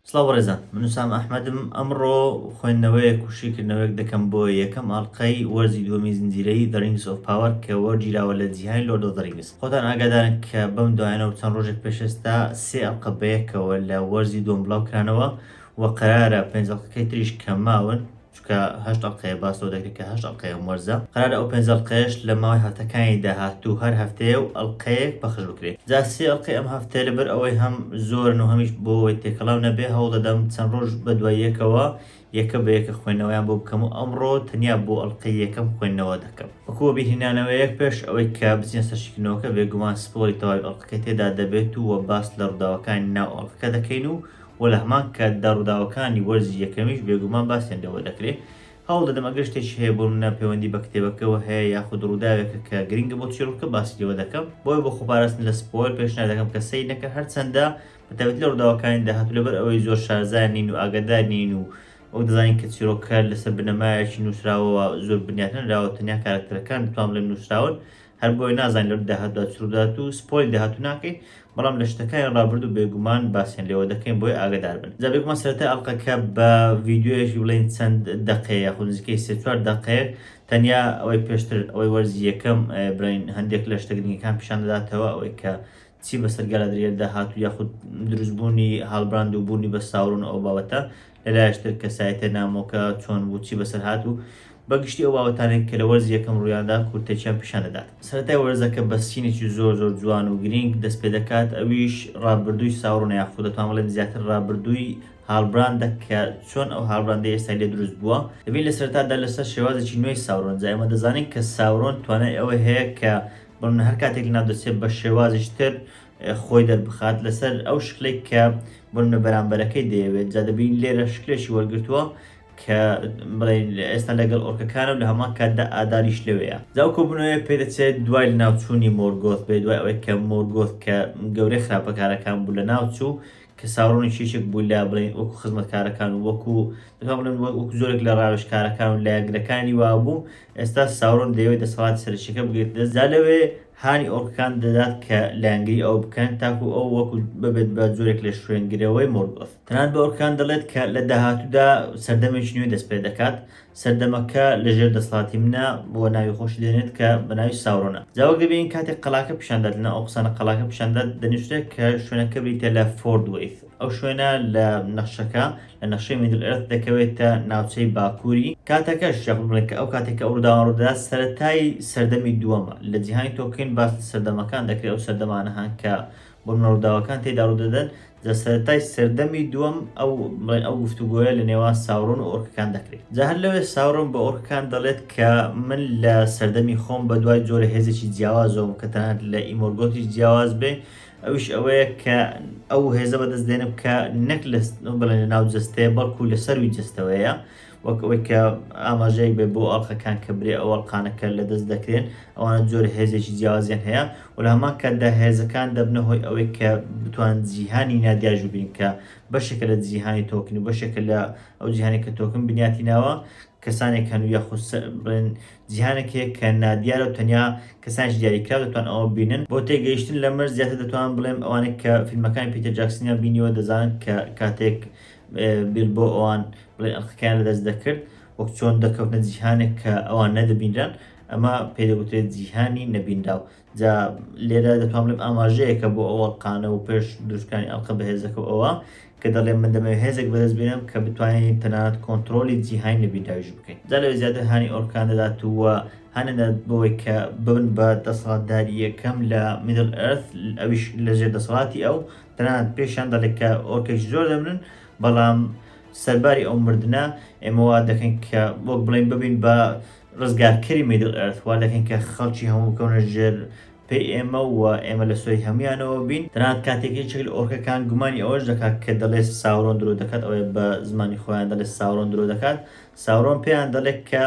سڵاو بەڕێزان من وسام ئەحمەدم ئەمڕۆ خوێندنەوەیە کوشیکردنەوەیەک دەکەم بۆ یەکەم ئاڵلقەی وەرزی دووەمی زنجیرەی دەڕینگس ئۆف پاوەر کە وەرگیراوە لە جیهانی لۆردۆ دەڕینگس خۆتان ئاگادارن کە بەم دوایانە و چەند ڕۆژێک پێشێستا سێ ئەڵقە بەیەکەوە لە وەرزی دووەم بڵاو کرانەوە و قەرارە پێنج ئەڵقەکەی تریش کە ماون چونکە هەشت ئەڵقەیە باس لەوە دەکرێت کە هەشت ئەڵقەی ئەم وەرزە قەرارە ئەو پێنج ئەڵقەیەش لە ماوەی هەفتەکانی داهاتوو هەر هەفتەیە و ئەڵقەیەک پەخش بکرێت جا سێ ئەڵقەی ئەم هەفتەیە لەبەر ئەوەی هەم زۆرن و هەمیش بۆ ئەوەی تێکەڵاو نەبێت هەوڵ دەدەم چەند ڕۆژ بەدوای یەکەوە یەکە بە یەکە خوێندنەوەیان بۆ بکەم و ئەمڕۆ تەنیا بۆ ئەڵقەی یەکەم خوێندنەوە دەکەم وەکو وەبیرهێنانەوەیەک پێش ئەوەی کە بچینە سەر شیکردنەوەکە بێگومان سپۆڵی تەواوی ئەڵقەکەی تێدا دەبێت و وە باس لە ڕووداوەکانی ناو ئەڵقەکە دەکەین و و لە هەمان کاتدا ڕووداوەکانی وەرزی یەکەمیش بێگومان باسیان لێوە دەکرێت، هەوڵ دەدەم ئەگەر شتێکی هەیە بۆ منە پەیوەندی بە کتێبەکەوە هەیە یاخود ڕووداوێکە کە گرنگە بۆ چیڕۆکەکە باسی لێوە دەکەم، بۆیە بۆ خۆپاراستن لە سپۆیڵ پێشنیار دەکەم کە سەیر نەکەن هەرچەندە بە تایبەتی لە ڕووداوەکانی داهاتوو لەبەر ئەوەی زۆر شارەزا نین و ئاگادار نین و وەک دەزانین کە چیڕۆکەکە لەسەر بنەمایەکی نووسراوەوە زۆر بنیاتنەنراوە تەنیا کارەکتەرەکان دەتوان بڵێم نووسراون هەر بۆیە نازانیت لە داهاتودا چ ڕوودەدات و سپۆیل داهاتوو ناکەین، بەڵام لە شتەکانی ڕابردوو بێگومان باسیان لێوە دەکەین بۆیە ئاگەدار بن. جا بێگومان سەرەتای ئەڵقەکە بە ڤیدیۆیەکی بڵێین چەند دەقەیە یاخود نزیکەی سێ چوار دەقەیەک تەنیا ئەوەی پێشتر ئەوەی وەرزی یەکەم بڵێین هەندێک لە شتە گرنگەکان پیشان دەداتەوە ئەوەی کە چی بەسەر گالادریێلدا هات و یاخود دروستبوونی هاڵبراند و بوونی بە ساورۆن ئەو بابەتە لەلایشتر کەسایەتە نامۆکە چۆن بوو چی بەسەر هات و بەگشتی ئەو باوەتانێک کە لە وەرزی یەکەم ڕوویاندا کورتەکیان پیشان دەدات سەرەتای وەرزەکە بە سینێکی زۆر زۆر جوان و گرینگ دەست پێ دەکات ئەویش ڕابردووی ساورۆنە یاخود دەتوان بڵێن زیاتر ڕابردووی هاڵبراندە کە چۆن ئەو هاڵبراندەی ئێستا لێ دروست بووە دەبین لە سەرەتادا لەسەر شێوازێکی نوێی ساورۆن جا ئێمە دەزانین کە ساورۆن توانای ئەوەی هەیە کە بەمنە هەر کاتێک لەناو دەچێت بە شێوازیش تر خۆی دەربخات لەسەر ئەو شکلێک کە بمنە بەرامبەرەکەی دەیەوێت جا دەبین لێرە شکلێکی وەرگتووە کە بڵێن ئێستا لەگەڵ ئۆرکەکانم لە هەمان کاتدا ئاداریش لەوەیە جاو کۆبنەوەیە پێ دەچێت دوای لە ناوچوونی مۆرگۆت بێ دوای ئەوەی کە مۆرگۆت کە گەورەی خراپەکارەکان بوو لە ناوچوو کە ساورۆنی چێچک بوو لە بڵێن وەکو خزمەتکارەکان و وەکو دەتوان بڵێن وەکو زۆرێک لە ڕاوێژکارەکان و لایەنگرەکانی وابوو، ئێستا ساورۆن دەیەوێت دەسەڵاتی سەرەکییەکە بگرێتە دەست، جا لەوێ هانی ئۆرکەکان دەدات کە لایەنگری ئەو بکەن تاکو ئەو وەکو ببێت بە جۆرێک لە شوێنگرەوەی مۆرگۆث. تەنانەت بە ئۆرکەکان دەڵێت کە لە داهاتوودا سەردەمێکی نوێ دەستپێدەکات، سەردەمەکە لە ژێر دەسەڵاتی منە بۆ ناوی خۆشی دێنێت کە بە ناوی ساورۆنە جا وەک دەبینین کاتێک قەلاکە پیشان دات لەناو ئەو قسانە قەلاکە پیشان دات دەنوسرێت کە شوێنەکە بریتیە لە فۆرد وەیث ئەو شوێنە لە نەخشەکە لە نەخشەی میدل ئێرث دەکەوێتە ناوچەی باکوری کاتەکەش یاخود بڵێن کە ئەو کاتێک کە ئەو ڕوداوە ڕودەدات سەرەتای سەردەمی دووەمە لە جیهانی تۆڵکین باس لە سەردەمەکان دەکرێت ئەو سەردەمانە هەن کە بۆ مناڵ ڕووداوەکان تێدا ڕوودەدەن، جا سەرەتای سەردەمی دووەم ئەو بڵێن ئەو گفتوگۆیە لە نێوان ساورۆن و ئۆرکەکان دەکرێت. جا هەر لەوێ ساورۆن بە ئۆرکەکان دەڵێت کە من لە سەردەمی خۆم بە دوای جۆرە هێزێکی جیاوازەوەم کە تەنانەت لە ئیمۆرگۆتیش جیاواز بێ ئەویش ئەوەیە کە ئەو هێزە بەدەست دێنم کە نەک لە بڵێن لە ناو جەستەیە بەڵکو لە سەروی جەستەوەیە وەک ئەوەی کە ئاماژەیەک بێت بۆ ئەڵقەکان کە برێ ئەو ئەڵقانە کە لەدەست دەکرێن ئەوانە جۆرە هێزێکی جیاوازیان هەیە و لە هەمان کاتدا هێزەکان دەبنە هۆی ئەوەی کە بتوانن جیهانی نادیار جووبین کە بەشێکە لە جیهانی تۆکن و بەشێکە لە ئەو جیهانی کە تۆکن بنیاتی ناوە کەسانێک هەن و یاخود سە- بڵێن جیهانێک هەیە کە نادیارە و تەنیا کەسانێکی دیاریکراو دەتوان ئەوە ببینن بۆ تێگەیشتن لەمەش زیاتر دەتوانم بڵێم ئەوانەی کە فیلمەکانی پیتەر جاکسنیان بینیوە دەزانن کە کاتێک بیلبۆ ئەوان بڵێن ئەرکەکەیان لەدەست دەکرد، وەک چۆن دەکەوتنە جیهانێک کە ئەوان نەدەبینران، ئەمە پێی دەگوترێت جیهانی نەبینراو. جا لێرە دەتوان بڵێم ئاماژەیەکە بۆ ئەو ئەڵقانە و پێش دروستکرانی ئەڵقە بەهێزەکە و ئەوە کە دەڵێ من دەمەوێت هێزێک بەدەست بێنم کە بتوانین تەنانەت کۆنتڕۆڵی جیهانی نەبینراویش بکەین. جا لەوێ زیاتر هانی ئۆرکان دەدات و هانیان دەدات بەوەی کە ببن بە دەسەڵاتداری یەکەم لە میدڵ ئێرث، ئەویش لەژێر دەسەڵاتی ئەو، تەنانەت پێشیان دەڵێت کە ئۆرکێکی زۆر دەمرن، بەڵام سەرباری ئەو مردنە ئێمە وا دەکەین کە وەک بڵێین ببین بە ڕزگارکەری میدڵ ئێرث، وا دەکەین کە خەڵکی هەموو بکەونە ژێر پێی ئێمە و ئێمە لە سۆی هەموویانەوە بین، تەنانەت کاتێک یەکێک لە ئۆرکەکان گومانی ئەوەش دەکات کە دەڵێت ساورۆن درۆ دەکات، ئەوەیە بە زمانی خۆیان دەڵێت ساورۆن درۆ دەکات، ساورۆن پێیان دەڵێت کە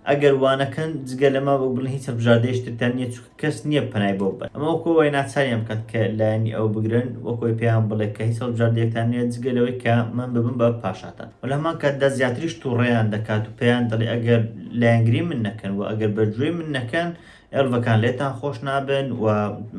ئەگەر وانەکەن جگە لە ماو ئەکبەرلە هیچ هەڵبژاردەیەکی ترتان نییە چونکە کەس نییە پەنای بۆ ببەن ئەمە وەکو ئەوەیە ناچاریان بکات کە لایەنی ئەو بگرن وەکو ئەوەی پێیان بڵێت کە هیچ هەڵبژاردەیەکتان نییە جگە لەوەی کە من ببم بە پاشاتان وە لە هەمان کاتدا زیاتریش توڕەیان دەکات و پێیان دەڵێت ئەگەر لایەنگری من نەکەن وە ئەگەر بەرگوێی من نەکەن ئێڵڤەکان لێتان خۆش نابن و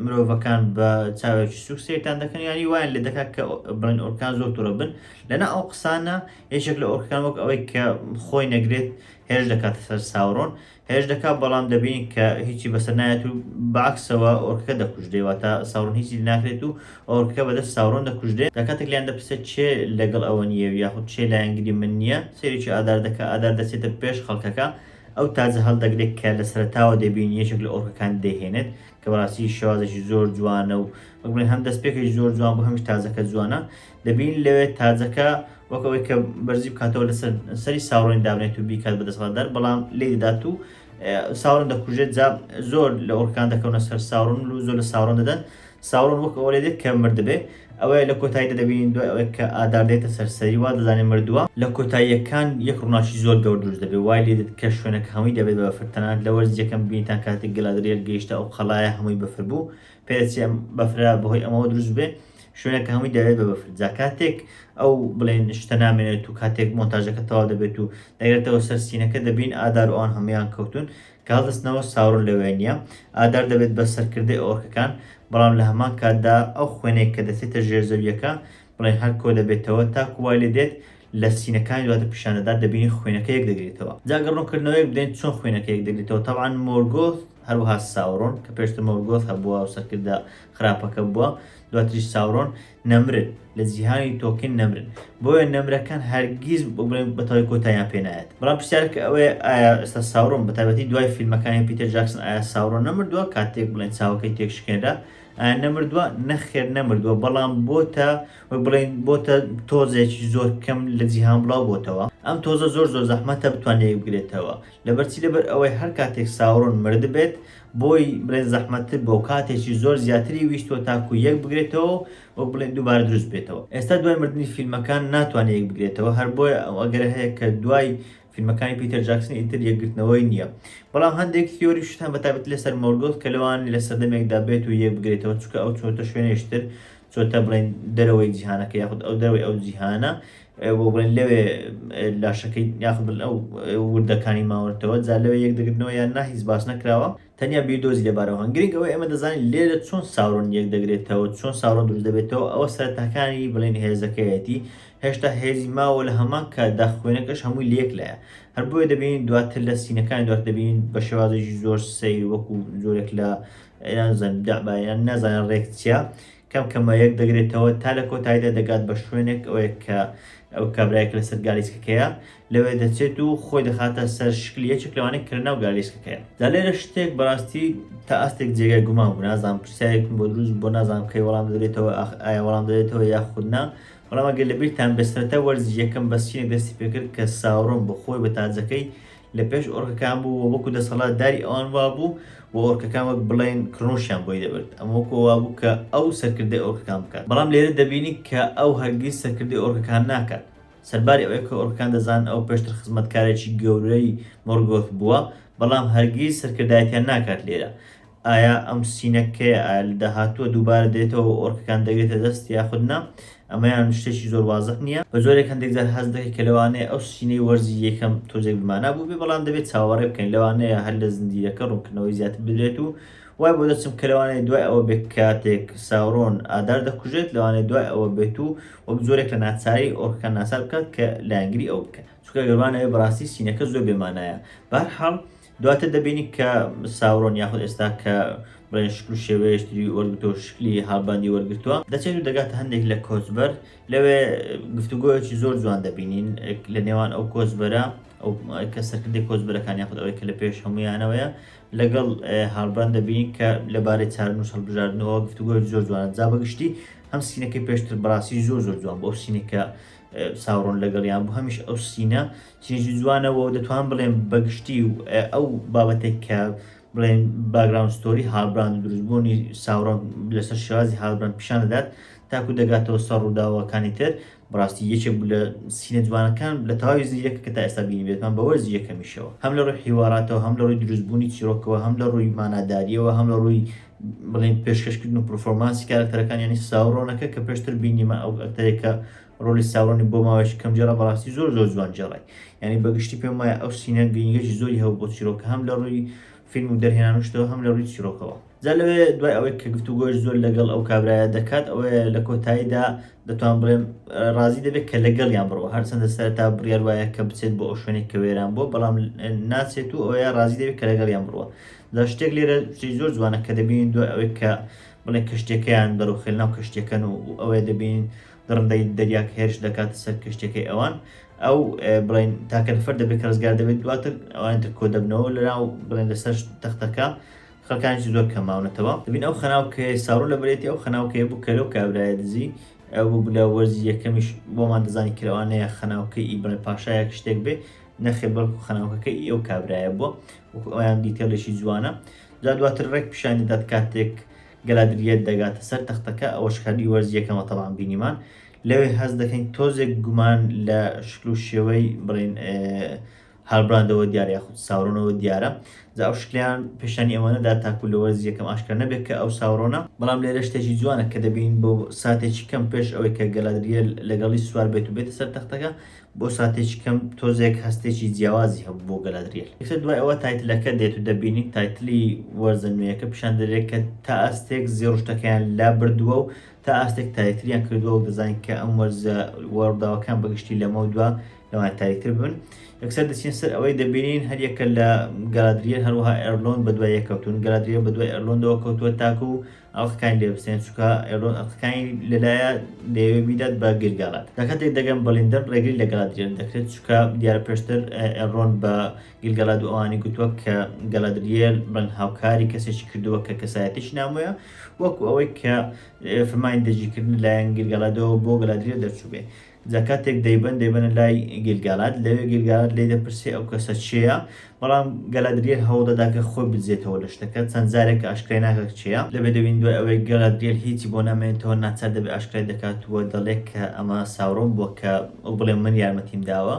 مرۆڤەکان بە چاوێکی سوک سەیرتان دەکەن یانی وایان لێ دەکات کە بڵێن ئۆرکان زۆر توڕە بن لەنا ئەو قسانە یەکێک لە ئۆرکەکان وەک ئەوەی کە خۆی نەگرێت هێرش دەکاتە سەر ساورۆن هێرش دەکات بەڵام دەبین کە هیچی بەسەر نایەت و بەعکسەوە ئۆرکەکە دەکوژدەی واتە ساورۆن هیچی ناکرێت و ئۆرکەکە بەدەست ساورۆن دەکوژدێت لە کاتێک لیان دەپرسێ چێ لەگەڵ ئەوە نییە و یاخود چێ لایەنگری من نییە سێریکی ئادار دەکە ئادار دەچێتە پێش خەڵکەکە ئەو تاجە هەڵدەگرێت کە لە سەرتاوە دەبین یەکێک لە ئۆرکەکان دەهێنێت کە بەڕاستی شێوازێکی زۆر جوانە و وەک بڵێن هەم دەستپێکێکی زۆر جوان بوو هەمیش تاجەکە جوانە دەبینین لەوێ تاجەکە وەک ئەوەی کە بەرزی بکاتەوە لەسەر سەری ساورۆنی دابنێت و بیکات بە دەسەڵاتدار بەڵام لێ دەدات و ساورۆن دەکوژێت جا زۆر لە ئۆرکان دەکەونە سەر ساورۆن و زۆر لە ساورۆن دەدەن ساورۆن وەک ئەوە لێ دێت کە مردبێ ئەوەیە لە کۆتاییدا دەبینین دوای ئەوەی کە ئادار دێتە سەر سەری وا دەزانێت مردووە لە کۆتاییەکان یەک ڕووناکی زۆر گەورە دروست دەبێت وای لێ دێت کە شوێنەکە هەمووی دەبێت بە بەفر تەنانەت لە وەرز یەکەم بینیتان کاتێک گەلادریێل گەیشتە ئەو قەڵایە هەمووی بەفر بوو پێچی ئەم بەفرە بەهۆی ئەمەوە دروست بێ شوێنە کە هەمووی دەوێت بە بەفر جا کاتێک ئەو بڵێن شتە نامێنێت و کاتێک مۆنتاژەکە تەوا دەبێت و دەگرێتەوە سەر سینەکە دەبین ئادار ئەوان هەمویان کەوتون کە هەڵدەستنەوە ساورن لەوێ نییە ئادار دەبێت بە سەرکردەی ئۆرکەکان بەڵام لە هەمان کاتدا ئەو خوێنێک کە دەچێتە ژێر زەویەکە بڵێن هەر کۆ دەبێتەوە تاکو وای لێ دێت لە سینەکانی دواتە پیشاندەدات دەبینی خوێنەکە یەک دەگرێتەوە جاگە ڕوونکردنەوەیەک بدەین چۆن خوێنەکە یەک دەگرێتەوە تەبعا مۆرگۆث هەروەها ساورۆن کە پێشتر مۆرگۆث هەبووە و سەرکردە خراپەکە بووە دواتریش ساورۆن نەمرن لە جیهانی تۆکن نەمرن بۆیە نەمرەکان هەرگیز بڵێن بەتەوەی کۆتاییان پێ نایەت بەڵام پرسیارەکە ئەوەیە ئایا ئێستا ساورۆن بە تایبەتی دوای فیلمەکانی پیتەر جاکسن ئایا ساورۆن نەمردووە کاتێک بڵێن چاوەکەی تێکشکێنرا ئایا نەمردووە نەخێر نەمردووە بەڵام بۆتە وەک بڵێن بۆتە تۆزێکی زۆر کەم لە جیهان بڵاو بۆتەوە ئەم تۆزە زۆر زۆر زەحمەتە بتوانێت بگرێتەوە لەبەرچی لەبەر ئەوەی هەر کاتێک ساورۆن مردبێت بۆی بڵێن زەحمەتتر بۆ کاتێکی زۆر زیاتری ویستوە تاکو یەک بگرێتەوە وەک بڵێن دووبارە دروست بێتەوە ئێستا دوای مردنی فیلمەکان ناتوانێت یەک بگرێتەوە هەر بۆیە ئەو ئەگەر هەیە کە دوای فیلمەکانی پیتەر جاکسن ئیتر یەکگرتنەوەی نییە بەڵام هەندێک تیۆری شتان بەتابەت لەسەر مۆرگۆت کە لەوان لە سەردەمێکدا بێت و یەک بگرێتەوە چکە ئەو چۆتە شوێنێشتر چۆتە بڵێن دەرەوەی جیهانەکە یاخود ئەو دەرەوەی ئەو جیهانە بۆ بڵێن لەوێ لاشەکەی یاخود بڵێن ئەو وردەکانی ماوەتەوە جا لەوێ یەک دەگرنەوە یان نا هیچ باس نەکراوە تەنیا بیردۆزی لەبارەوە هەن گرنگ ئەوەی ئێمە دەزانین لێرە چۆن ساورۆن یەک دەگرێتەوە چۆن ساورۆن دروست دەبێتەوە ئەوە سەرتاکانی بڵێن هێزەکەیەتی هێشتا هێزی ماوە لە هەمان کاتدا خوێنەکەش هەمووی لەک لایە هەر بۆیە دەبینین دواتر لە سینەکان دوات دەبینین بە شێوازێکی زۆر سیر وەکو زۆرێک لە یان زەن دەعبا یان نازانن ڕێک چیە کەم کەمە یەک دەگرێتەوە تا لە کۆتاییدا دەگات بە شوێنێک ئەوەیە کە ئەو کابرایەک لەسەر گالیسکەکەیە لەوێ دەچێت و خۆی دەخاتە سەر شکل یەکێک لەوانەیە کە لەناو گالیسکەکەیە دا لێرە شتێک بەڕاستی تا ئاستێک جێگای گومان بوو نازانم پرسیارێکم بۆ دروست بۆ نازانم کەی وەڵام دەدرێتەوە ئایا وەڵام دەدرێتەوە یاخود نا بەڵام ئەگەر لەبیرتان بێ سەرەتا وەرزی یەکەم بەسچینێک دەستی پێکرد کە ساورۆن بۆ خۆی بە تاجەکەی لە پێش ئۆرکەکان بوو و وەکو دەسەڵات داری ئەوان وابوو و ئۆرکەکان وەک بڵێن کڕنوشیان بۆی دەبرد ئەمە وەکو وابوو کە ئەو سەرکردەی ئۆرکەکان بکات بەڵام لێرە دەبینی کە ئەو هەرگیز سەرکردەی ئۆرکەکان ناکات سەرباری ئەوەی کە ئۆرکەکان دەزانن ئەو پێشتر خزمەتکارێکی گەورەی مۆرگۆث بووە بەڵام هەرگیز سەرکردایەتیان ناکات لێرە ئایا ئەم سینەکەیە ئایا لە داهاتووە دووبارە دێتەوە و ئۆرکەکان دەگرێتە دەست یاخود نا؟ ئەمەیان شتێکی زۆر وازح نییە. بە جۆرێک هەندێک جار هەست دەکەیت کە لەوانەیە ئەو سینەی وەرزی یەکەم تۆزێک بمانا بووبێ، بەڵام دەبێت چاوەڕێ بکەین لەوانەیە هەر لە زنجیرەکە ڕوونکردنەوەی زیاتر بدرێت و وای بۆ دەچم کە لەوانەیە دوای ئەوە بێت کاتێک ساورۆن ئادار دەکوژێت لەوانەیە دوای ئەوە بێت و وەک جۆرێک لە ناچاری ئۆرکەکان ناچار بکات کە لایەنگری ئەو بکەن چونکە گەر وانەبێت بەڕاستی سینەکە زۆر بێمانایە بەهەرحاڵ دواتر دەبینی کە ساورۆن یاخود ئێستا کە بڵێن شکل و شێوەیەشتری وەرگتەوە شکلی هاڵباندی وەرگتووە دەچێت و دەگاتە هەندێک لە کۆچبەر لەوێ گفتوگۆیەکی زۆر جوان دەبینین لە نێوان ئەو کۆچبەرە ئەو کە سەرکردی کۆچبەرەکان یاخود ئەوەی کە لە پێش هەمویانەوەیە لەگەڵ هاڵبران دەبین کە لەبارەی چارن و هەڵبژاردنەوە گفتوگۆی زۆر جوان جا بەگشتی هەم سینەکەی پێشتر بڕاستی زۆر زۆر جوان بۆ ئەو سینەکە ساڕۆن لەگەڵیان بوو هەمیش ئەو سینە چێژی جوانە وە دەتوانم بڵێم بەگشتی و ئەو بابەتێک کە بڵێن باگراوند ستۆری هاڵبراند دروستبوونی ساورۆن لەسەر شێوازی هاڵبراند پیشان دەدات تاکو دەگاتەوە سەر ڕووداوەکانی تر بڕاستی یەکێک بوو لە سینە جوانەکان لە تەواوی زیرەکە کە تا ئێستا بینی بێتمان بە وەرزی یەکەمیشەوە هەم لە ڕووی حیواراتەوە هەم لە ڕووی دروستبوونی چیرۆکەوە هەم لە ڕووی ماناداریەوە هەم لە ڕووی بڵێن پێشکەشکردن و پرفۆرمانسی کارەکتەرەکان یانی ساورۆنەکە کە پێشتر بینیمان ئەو ئەکتەرێکە ڕۆلی ساورۆنی بۆ ماوەیەکی کەم جێڕا بەڕاستی زۆر زۆر جوان جێڕای یعنی بەگشتی پێم وایە ئەو سینە گرنگێکی زۆری هەبوو بۆ چیرۆکە هەم لە ڕووی فیلم و دەرهێنانشتەوە هەم لە ڕووی چیرۆکەوە جا لەوێ دوای ئەوەی کە گفتوگۆش زۆر لەگەڵ ئەو کابرایە دەکات ئەوەیە لە کۆتاییدا دەتوان بڵێم ڕازی دەبێت کە لەگەڵیان بڕەوە هەرچەندە سەرەتا بڕیار وایە کە بچێت بۆ ئەو شوێنێک کە وێران بووە بەڵام ناچێت و ئەوەیە ڕازی دەبێت کە لەگەڵیان بڕوە جا شتێک لێرە شتێک زۆر جوانە کە دەبینین دوای ئەوەی کە بڵێ کەشتەکەیان بەرەو خێلناو کەشتەکەن و ئەوەیە دەبینین دڕندەی دەریاک هێرش دەکاتە سەر کەشتیەکەی ئەوان ئەو بڵین تاکە نفەر دەبێت کە ڕزگار دەبێت دواتر ئەوان تر کۆ دەبنەوە لەناو بڵێن لەسەر تەختەکە خەکانش زۆر کەماونەتەوە دەبین ئەو خەناوکەیە ساڕۆ لە برێتی ئەو خەناوکەیە بوو کە لەو کابرایە دزی ئەو بوو لە وەرزی یەکەمیش بۆمان دەزانی کرەوانەیە خەناوکەی ئی بڵێ پاشایەک شتێک بێ نەخێ بەڵکو خەناوکەکە ئی ئەو کابرایە بووە وەکو ئەویان دیتێڵێکی جوانە جا دواتر ڕێک پیشانی دەات کاتێک گەلادرییەت دەگاتە سەر تەختەکە، ئەوەش کاتی وەرزی یەکەمە تەڵان بینیمان لەوێ هەست دەکەین تۆزێک گومان لە شکل و شێوەی بڵێین هالبراندەوە دیارە یاخود ساورۆنەوە دیارە جا ئەو شکلیان پێشانی ئەوە نەدا تاکو لە وەرزی یەکەم ئاشکرا نەبێت کە ئەو ساورۆنە، بەڵام لێرە شتێکی جوانە کە دەبینین بۆ ساتێکی کەم پێش ئەوەی کە گەلادرییەل لەگەڵی سوار بێت و بێتە سەر تەختەکە بۆ ساتێکی کەم تۆزێک هەستێکی جیاوازی هەبوو بۆ گەلادریێل یەکسەر دوای ئەوە تایتلەکە دێت و دەبینین تایتلی وەرزە نوێیەکە پیشان دەرێت کە تا ئاستێک زێڕشتەکەیان لا بردووە و تا ئاستێک تاریتریان کردووە و دەزانین کە ئەم وەرزە وەڕداوەکان بەگشتی لەمە دوا لەوان تاریتر بن یەکسەر دەچین سەر ئەوەی دەبینین هەر یەکە لە گەلادریێل هەروەها ئەرلۆن بە دوای یەکەوتون گەلادریێل بە دوای ئەرلۆندەوە کەوتووە تاکو و ئەڵقەکانی لێ بسێن چونکە ئێلۆن ئەڵقەکانی لەلایە دەیەوێت بیدات بە گل گالاات لە کاتێک دەگەن بە لیندەن ڕێگری لە گەلادریان دەکرێت چونکە دیارە پێشتر ئێلرۆن بە گل گەلاد و ئەوانی گوتووە کە گەلادریێل ڕەنگ هاوکاری کەسێکی کردووە کە کەسایەتیش نامۆیە وەکو ئەوەی کە فرمانی دەجیکردن لایەن گل گەلادەوە بۆ گەلادریێل دەرچوو بێ جا کاتێک دەیبەن دەیبەنە لای گیلگالاد لەوێ گیلگالاد لێی دەپرسێ ئەو کەسە چێە بەڵام گەلادریل هەوڵدەدا کە خۆی بدزێتەوە لە شتەکە چەند جارێک کە ئاشکرای ناکات چێە لەوێ دەبین دوای ئەوەی گەلادریل هیچی بۆ نامێنێتەوە ناچار دەبێ ئاشکرای دەکات و دەڵێ کە ئەمە ساورۆن بووە کە ئەو بڵێ من یارمەتیم داوە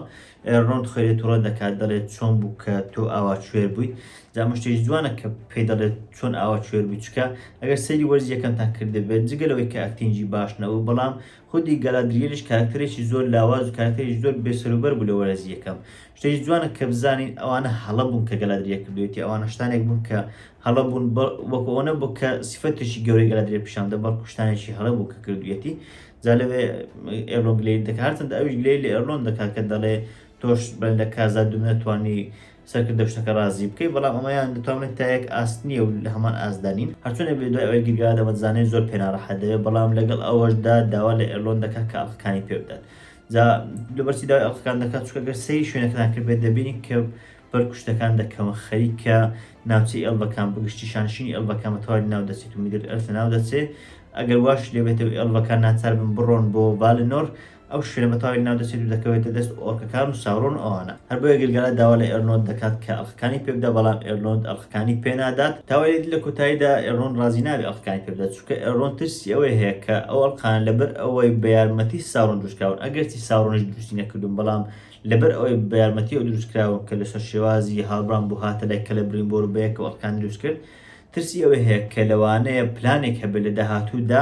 ڕۆن خوێ لێ توڕە دەکات دەڵێت چۆن بوو کە تۆ ئاوا کوێر بوویت جا مشتێکی جوانە کە پێی دەڵێت چۆن ئاوا کوێر بووی چکە ئەگەر سەیری وەرزی یەکەمتان کردبێت جگە لەوەی کە ئەکتینگی باش نەبوو بەڵام خودی گالادریێلیش کارەکتەرێکی زۆر لاواز و کارەکتەرێکی زۆر بێ سەروبەر بوو لە وەرەزی یەکەم. شتێکی جوانە کە بزانین ئەوانە هەڵە بوون کە گالادریێ کردوویەتی، ئەوانە شتانێک بوون کە هەڵە بوون، وەکو ئەوە نەبوو کە سیفەتێکی گەورەی گالادریێل پیشان بدەن، بەڵکو شتانێکی هەڵە بوو کە کردوویەتی. جا لەوێ ئێرلۆن گلەیت دەکات، هەرچەندە ئەویش گلەی لە ئێرلۆن دەکات کە دەڵێ تۆش بەرەندا کازا دوو نەتوانی سەرکردە شتەکە رازی بکەی بەڵام ئەمەیان دەتوانێت تا یەک ئاست نیە و لە هەمان ئاستدا نین هەرچۆنێک بێت دوای ئەوەی گیرگاوە دەمەتزانێت زۆر پێ ناڕەحەت دەبێت بەڵام لەگەڵ ئەوەشدا داوا لە ئێرلۆن دەکات کە ئەڵقەکانی پێ بدات جا لەبەرچی داوای ئەڵقەکان دەکات چونکە گەر سەیری شوێنەکەتان کرد بێت دەبینی کە بەرگ و شتەکان دەکەون خەریکە ناوچەی ئێڵڤەکان بگشتی شانشینی ئێڵڤەکان بە تەواوی لەناو دەچێت و میدل ئێرث لەناو دەچێت ئەگەر واش لێبێتەوە ئێڵڤەکان ناچار بن بڕۆن بۆ ڤالنۆر ئەو شوێنە بە تەواوی لەناو دەچێت و دەکەوێتە دەست ئۆرکەکان و ساورۆن و ئەوانە. هەر بۆیە گلگالا داوا لە ئێرنۆند دەکات کە ئەڵقەکانی پێ بدا بەڵام ئێرنۆند ئەڵقەکانی پێ نادات. تاوەری لە کۆتاییدا ئێرنۆند ڕازی نابێت ئەڵقەکانی پێ بدات چونکە ئێرنۆند ترسی ئەوەی هەیە کە ئەو ئەڵقانە لەبەر ئەوەی بە یارمەتی ساورۆن دروست کراون ئەگەرچی ساورۆنیش دروستی نەکردوون بەڵام لەبەر ئەوەی بە یارمەتی ئەو دروست کراون کە لەسەر شێوازی هالبران بوو هاتە لای کەلەبریمبۆر و بەیەکەوە ئەڵقەکان دروست کرد ترسی ئەوەی هەیە کە لەوانەیە پلانێک هەبێت لە داهاتوودا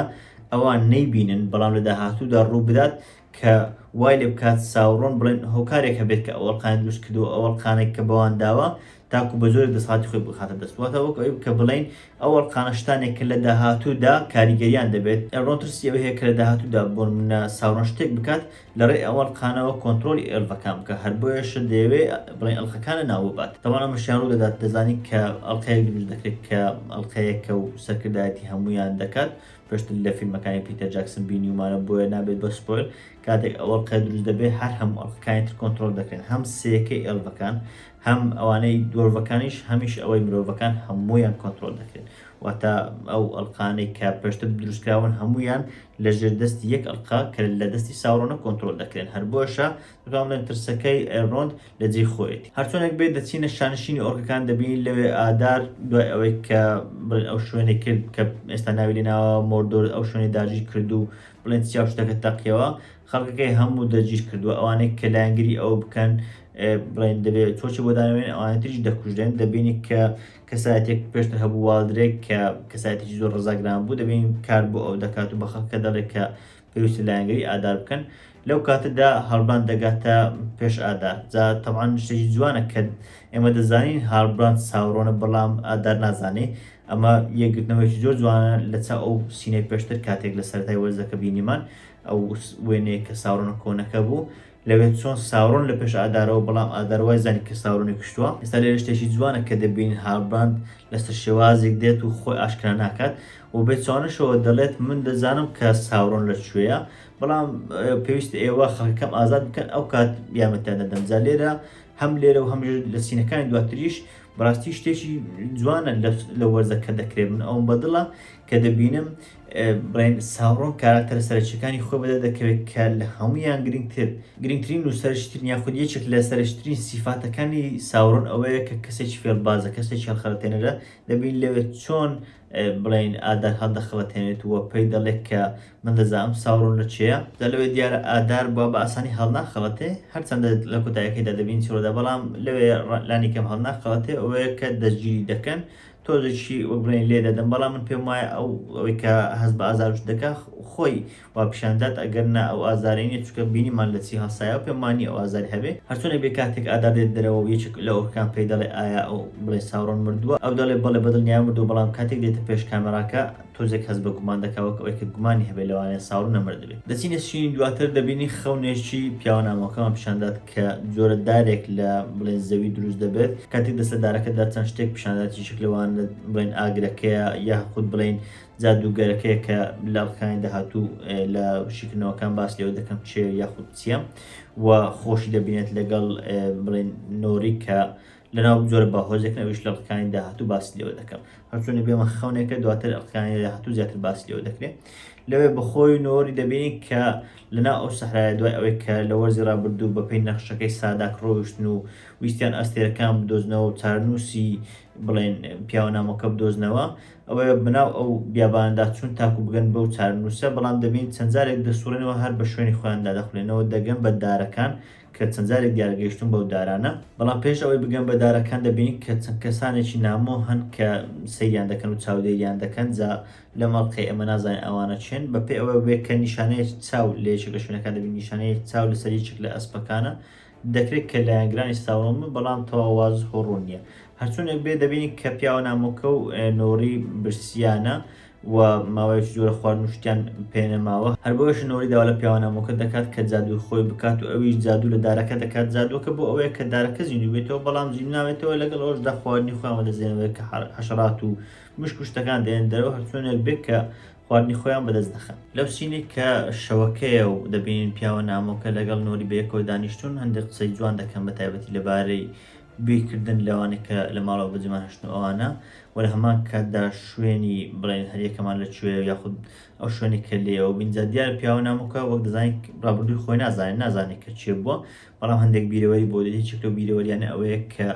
ئەوان نەیبینن، بەڵام لە داهاتوودا ڕووبدات کە وای لێ بکات ساوڕۆن بڵێن هۆکارێک هەبێت کە ئەو ئەڵقانەی دروستکردووە، ئەو ئەڵقانەی کە بەوان داوە تاکو بە زۆرێک دەسەڵاتی خۆی بخاتە دەست. واتە وەک ئەوەی کە بڵێین ئەو ئەڵقانە شتانێک کە لە داهاتوودا کاریگەرییان دەبێت. ئەلڕۆن ترسی ئەوەی هەیە کە لە داهاتوودا بۆنموونە ساوڕۆن شتێک بکات لە ڕێی ئەو ئەڵقانەوە کۆنترۆڵی ئێلڤەکان بکە هەر بۆیەشە دەیەوێ بڵێ ئەڵقەکان لە ناو ببات تەوان ئەمەشیان ڕوو دەدات دەزانی کە ئەڵقەیەک دروست دەکرێت کە ئەڵقەیەکە و سەرکردایەتی هەمویان دەکات پێشتر لە فیلمەکانی پیتەر جاکسن بینیومانە بۆیە نابێت بە سپۆیل کاتێک ئەو ئەڵقەیە دروست دەبێت هەر هەموو ئەڵقەکانی تر کۆنترۆل دەکرێن هەم سێکەی ئێلڤەکان هەم ئەوانەی دۆرڤەکانیش هەمیش ئەوەی مرۆڤەکان هەمویان کۆنترۆل دەکرێن واتە ئەو ئەڵقانەی کە پێشتر دروستکراون هەمویان لە ژێر دەستی یەک ئەڵقە کە لە دەستی ساورۆنە کۆنترۆل دەکرێن، هەر بۆیەشە دەتوانم بڵێم ترسەکەی ئێلرۆند لە جێی خۆیەتی. هەرچۆنێک بێت دەچینە شانشینی ئۆرکەکان دەبینین لەوێ ئادار دوای ئەوەی کە بڵێن ئەو شوێنەی کرد کە ئێستا ناوی لێ ناوە مۆردۆر ئەو شوێنەی داگیر کرد و بڵێن چیا و شتەکە تەقیەوە خەڵکەکەی هەموو دەگیر کردووە ئەوانەی کە لایەنگری ئەو بکەن بڵێن دەبێت چۆچی بۆ دانەوێن ئەوانەی تریش دەکوژرێن دەبینی کە کەسایەتیەک پێشتر هەبوو والدرێک کە کەسایەتیکی زۆر ڕزاگران بوو دەبین کار بۆ ئەو دەکات و بە خەڵکە دەڵێک کە پێویستە لایەنگری ئادار بکەن لەو کاتەدا هەڵبان دەگاتە پێش ئادار جا تەوان شتێکی جوانە کە ئێمە دەزانین هاڵبران ساوڕۆنە بەڵام ئادار نازانێ ئەمە یەکگرتنەوەیکی زۆر جوانە لە چا ئەو سینەی پێشتر کاتێک لە سەرای وەرزەکە بینیمان ئەو وێنەیە کە ساوڕۆنە کۆنەکە بوو لەوێ چۆن ساورۆن لە پێش ئادارەوە بەڵام ئادار وای زانی کە ساورۆنی کوشتووە ئێستا لێرە شتێکی جوانە کە دەبینین هالبراند لەسەر شێوازێک دێت و خۆی ئاشکرا ناکات و بێ چوانشەوە دەڵێت من دەزانم کە ساورۆن لە کوێیە بەڵام پێویست ئێوە خەکەم ئازاد بکەن ئەو کات یامەتیان دەدەم جا لێرە هەم لێرە و هەم لە سینەکانی دواتریش بەڕاستی شتێکی جوانە لە وەرزەکە دەکرێت من ئەوم بەدڵە کە دەبینم برین ساورۆن کاراکتەرە سەرەکییەکانی خۆی بەدەر دەکەوێت کە لە هەموویان گرنگتر گرنگترین و سەرەکیترین یاخود یەکێک لە سەرەکیترین سیفاتەکانی ساورۆن ئەوەیە کە کەسێکی فێڵبازە کەسێکی هەڵخەڵەتێنەرە دەبین لەوێ چۆن بڵین ئادار هەڵدەخەڵەتێنێت و پێی دەڵێت کە من دەزانم ساورۆن لە چێە دا لەوێ دیارە ئادار بووە بە ئاسانی هەڵناخەڵەتێ هەرچەندە لە کۆتایەکەیدا دەبین چۆرەدا بەڵام لەوێ لانیکەم هەڵناخەڵەتێ ئەوەیە کە دەستگیری دەکەن تۆزێکی وەربڵێن لێ دەدەم بەڵام من پێم وایە ئەو ئەوەی کە هەست بە ئازارش دەکا خۆی وا پیشان دات ئەگەر نا ئەو ئازارەی نیە چونکە بینیمان لە چی هەڵسایەوە پێم وا نیە ئەو ئازاری هەبێ هەر چۆنێک بێ کاتێک ئادار دێت دەرەوە و یەکێک لە ئۆرکەکان پێی دەڵێ ئایا ئەو بڵێ ساورۆن مردووە ئەو دەڵێ بەڵێ بە دڵنیایە مردووە بەڵام کاتێک دێتە پێش کامێڕاکە تۆزێک هەست بە گومان دەکا وەک ئەوەی کە گومانی هەبێ لەوانەیە ساڕو نەمردبێ. دەچینە شینی دواتر دەبینین خەونێکی پیاوە نامۆکەمان پیشان دات کە جۆرە دارێک لە بڵێن زەوی دروست دەبێت کاتێک دەستە دارەکەدا چەند شتێک پیشان دات یەکێک لەوانە بڵێن ئاگرەکەیە یاخود بڵێن جادووگەرەکەیە کە لە ئەڵقەکانی داهاتوو لە شیکردنەوەکان باس لێوە دەکەم چێ یاخود چییە و خۆشی دەبینێت لەگەڵ بڵێن نۆری کە لەناو جۆرە باهۆزێکن ئەویش لە ڕکانی داهاتوو باسی لێوە دەکەم هەرچۆنە بێمە خەونێکە دواتر ڕکانی داهاتوو زیاتر باسی لێوە دەکرێت لەوێ بەخۆی نۆری دەبینی کە لەنا ئەو سەحرایە دوای ئەوەی کە لە وەرزی ڕابردوو بەپی نەخشەکەی ساداک ڕۆیشتن و ویستیان ئەستێرەکان بدۆزنەوە و چارنووسی بڵێن پیاوە نامۆکە بدۆزنەوە ئەوە بەناو ئەو بیاباندا چون تاکو بگەن بەو چارنووسە بەڵام دەبین چەندجارێک دەسوڕێنەوە هەر بە شوێنی خۆیاندا دەخولێنەوە دەگەن بە دارەکان کە چەند جارێک دیار گەیشتووم بەو دارانە، بەڵام پێش ئەوەی بگەم بە دارەکان دەبینین کە چەند کەسانێکی نامۆ هەن کە سەیریان دەکەن و چاودێریان دەکەن، جا لەم ئەڵقەی ئێمە نازانین ئەوانە کێن، بە پێی ئەوە بێ کە نیشانەیەک چاو لە یەکێک لە شوێنەکان دەبینین، نیشانەیەک چاو لە سەر یەکێک لە ئەسپەکانە، دەکرێت کە لایەنگرانی ستاوڕۆم بن بەڵام تەواو وازح و ڕوون نییە. هەرچۆنێک بێ دەبینین کە پیاوە نامۆکە و نۆری برسییانە و ماوەیەکی زۆرە خواردن و شتیان پێنەماوە هەر بۆیەشە نۆری داوا لە پیاوە نامۆکە دەکات کە جادووی خۆی بکات و ئەویش جادوو لە دارەکە دەکات جادووەکە بۆ ئەوەیە کە دارەکە زیندوو بێتەوە بەڵام زیندوو نابێتەوە لەگەڵ ئەوەشدا خواردنی خۆیان وەدەزێنەوەێ کە حەشەرات و مشک و شتەکان دێنن دەرەوە هەرچۆنێک بێت کە خواردنی خۆیان بەدەست دەخەن لەو سینێک کە شەوەکەیە و دەبینین پیاوە نامۆکە لەگەڵ نۆری بەیەکەوە دانیشتون هەندێک قسەی جوان دەکەن بە تایبەتی لەبارەی گوێی کردن لەوانەی کە لە ماڵەوە بەجێمان هەشتن و ئەوانە وە لە هەمان کاتدا شوێنی بڵێن هەریەکەمان لە کوێ یاخود ئەو شوێنی کە لێیەوە بین جا دیارە پیاوە نامۆکە وەک دەزانین ڕابردووی خۆی نازانێت نازانێت کە چێ بووە بەڵام هەندێک بیرەوەری بۆ دێت یەکێک لەو بیرەوەریانە ئەوەیە کە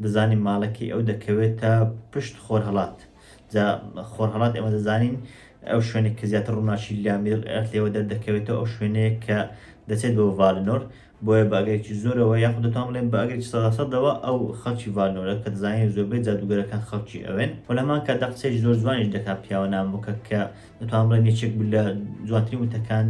دەزانین ماڵەکەی ئەو دەکەوێتە پشت خۆرهەڵات جا خۆرهەڵات ئێمە دەزانین ئەو شوێنێک کە زیاتر ڕووناکی لامیر ئەرتلەوە دەردەکەوێتەوە ئەو شوێنەیە کە دەچێت بۆ ڤالنۆر بۆیە بە ئەگەرێکی زۆرەوە یاخود دەتوان بڵێم بە ئەگەرێکی سەدا سەدەوە ئەو خەڵکی ڤانۆرە کە دەزانین زۆربەی جادووگەرەکان خەڵکی ئەوێن و لە هەمان کاتدا قسەیەکی زۆر جوانیش دەکات پیاوە نامۆکە کە دەتوان بڵێم یەکێک بوو لە جوانترین وتەکان